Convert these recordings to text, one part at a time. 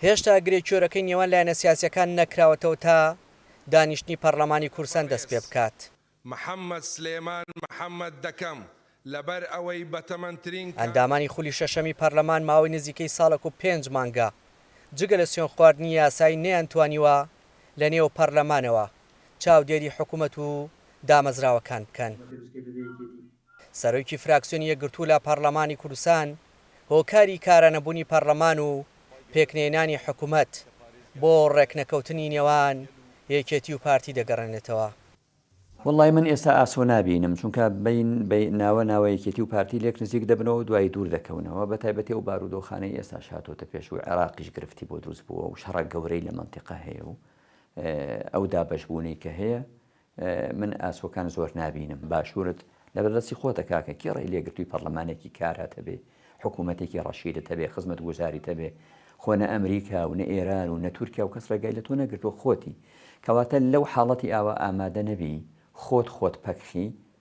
هێشتا گرێ کۆرەکەی نێوان لایەنە سیاسییەکان نەکراوەتەوە تا دانیشتنی پەڕلەمانی کورسان دەست پێ بکات. محەمەد سلێمان محەمەد دەکەم، لەبەر ئەوەی بەتەمەنترین کە. ئەندامانی خولی شەشەمی پەرلەمان ماوەی نزیکەی ساڵێک و پێنج مانگە جگە لە سوێن خواردنی یاسایی نەیانتوانیوە لە نێو پەرلەمانەوە چاودێری حکومەت و دامەزراوەکان بکەن. سەرۆکی فراکسیۆنی یەکگرتوو لە پەڕلەمانی کوردستان هۆکاری کارانەبوونی پەڕلەمان و پێکنەهێنانی حکومەت بۆ ڕێکنەکەوتنی نێوان یەکێتی و پارتی دەگەڕێنێتەوە. وەڵڵای من ئێستا ئاسۆ نابینم، چونکە بەین بەین ناوە ناوە یەکێتی و پارتی لێک نزیک دەبنەوە و دوایی دوور دەکەونەوە، بەتایبەتی ئەو بارودۆخانەی ئێستاش هاتۆتە پێش و عێراقیش گرفتی بۆ دروست بووە و شەڕە گەورەی لە مەنتیقە هەیە و ئەو دابەشبوونەی کە هەیە من ئاسۆکان زۆر نابینم. باشورت لەبەر دەستی خۆتە کاکە کێ ڕێی لێگرتوی پەڕلەمانێکی کارا تەبێ حکومەتێکی ڕەشیدە تەبێ خزمەت گوزاری تەبێ خۆ نە ئەمریکا و نە ئێران و نە تورکیا و کەس ڕێگای لە تۆ نەگرتوە خۆتی کەواتە لەو حاڵەتی ئاوا ئامادە نەبی خۆت خۆت پەکخی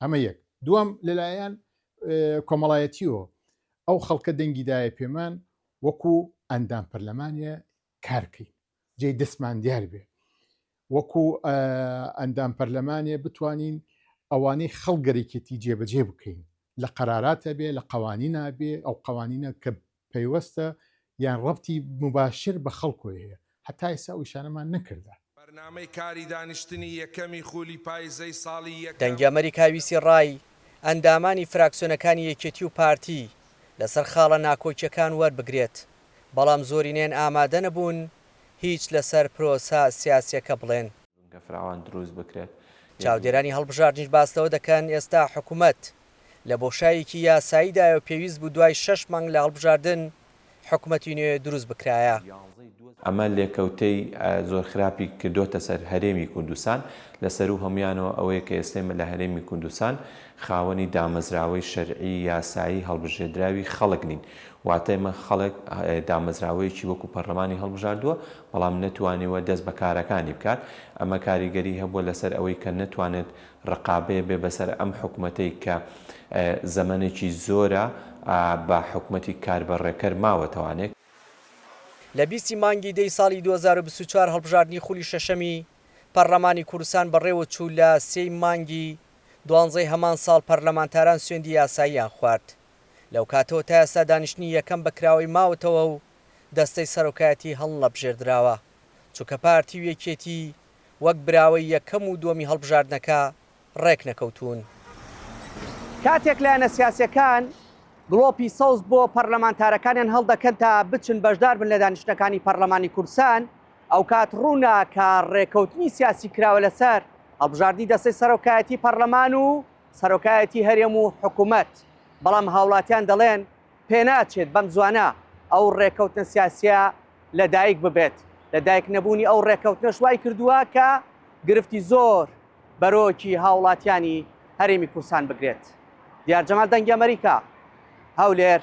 ئەمە یەک دوم لەلایەن کۆمەڵایەتیەوە ئەو خەڵکە دەنگی دایە پێمان وەکو ئەندام پەرلەمانە کارکەین جێ دەستمان دیار بێ وەکو ئەندام پەرلەمانێ بتوانین ئەوانەی خەڵگەرێکێتی جێبەجێ بکەین لە قەراراتە بێ لە قوانینە بێ ئەو قوانینە کە پەیوەستە یان ڕەبتی موباشر بە خەڵکۆی هەیە هەتا ئیستا ئەو ئیشانەمان نەکردە. بەرنامەی کاری دانیشتنی یەکەمی خولی پایزەی ساڵی یەکەم. دەنگی ئەمەریکا ویستی ڕای ئەندامانی فراکسیۆنەکانی یەکێتی و پارتی لەسەر خاڵە ناکۆکیەکان وەربگرێت، بەڵام زۆرینەیان ئامادەنەبوون هیچ لەسەر پرۆسە سیاسیەکە بڵێن. فراوان دروست بکرێت. چاودێرانی هەڵبژاردنیش باس لەوە دەکەن، ئێستا حکومەت لە بۆشایەکی یاساییدایەو پێویست بوو دوای شەش مانگ لە هەڵبژاردن حکومەتی نوێ دروست بکرایە. ئەمە لێکەوتەی زۆر خراپی کردۆتە سەر هەرێمی کوردستان، لە سەروو هەموویانەوە ئەوەیە کە ئێستێمە لە هەرێمی کوردستان خاوەنی دامەزراوەی شەرعی یاسایی هەڵبژێردراوی خەڵک نین، واتە ئێمە خەڵک دامەزراوەیەکی وەکو پەرلەمانی هەڵبژاردووە بەڵام نەتوانیوە دەست بە کارەکانی بکات، ئەمە کاریگەری هەبووە لەسەر ئەوەی کە نەتوانێت رقابەێ بێ بەسەر ئەم حکومەتەی کە زەمەنێکی زۆرە بە حکومەتی کاربەڕێکەر ماوەتەوانێک. لە بیست ی مانگی دە ی ساڵی دوو هەزار و بیست و چوار هەڵبژاردنی خولی شەشەمی پەڕلەمانی کوردستان بەڕێوەچوو، لە سێ ی مانگی دوانزە ی هەمان ساڵ پەرلەمانتاران سوێندی یاساییان خوارد، لەوکاتەوە تا ئێستا دانیشتنی یەکەم بە کراوەی ماوەتەوە و دەستەی سەرۆکایەتی هەڵنەبژێردراوە، چونکە پارتی و یەکێتی وەک براوەی یەکەم و دووەمی هەڵبژاردنەکە ڕێکنەکەوتوون. کاتێک لایەنە سیاسییەکان گڵۆپی سەوز بۆ پەرلەمانتارەکانیان هەڵدەکەن تا بچن بەشداربن لە دانیشتنەکانی پەرلەمانی کوردستان، ئەوکات ڕوونە کە ڕێککەوتنی سیاسی کراوە لەسەر هەڵبژاردنی دەستەی سەرۆکایەتی پەرلەمان و سەرۆکایەتی هەرێم و حکومەت، بەڵام هاوڵاتیان دەڵێن، پێناچێت بەمزوانە ئەو ڕێکەوتنە سیاسیە لەدایک ببێت، لەدایک نەبوونی ئەو ڕێکەوتنەش وایکردووە کە گرفتی زۆر بەرۆکی هاوڵاتیانی هەرێمی کوردستان بگرێت. دیار جەمال دەنگی ئەمەریکا، هەولێر.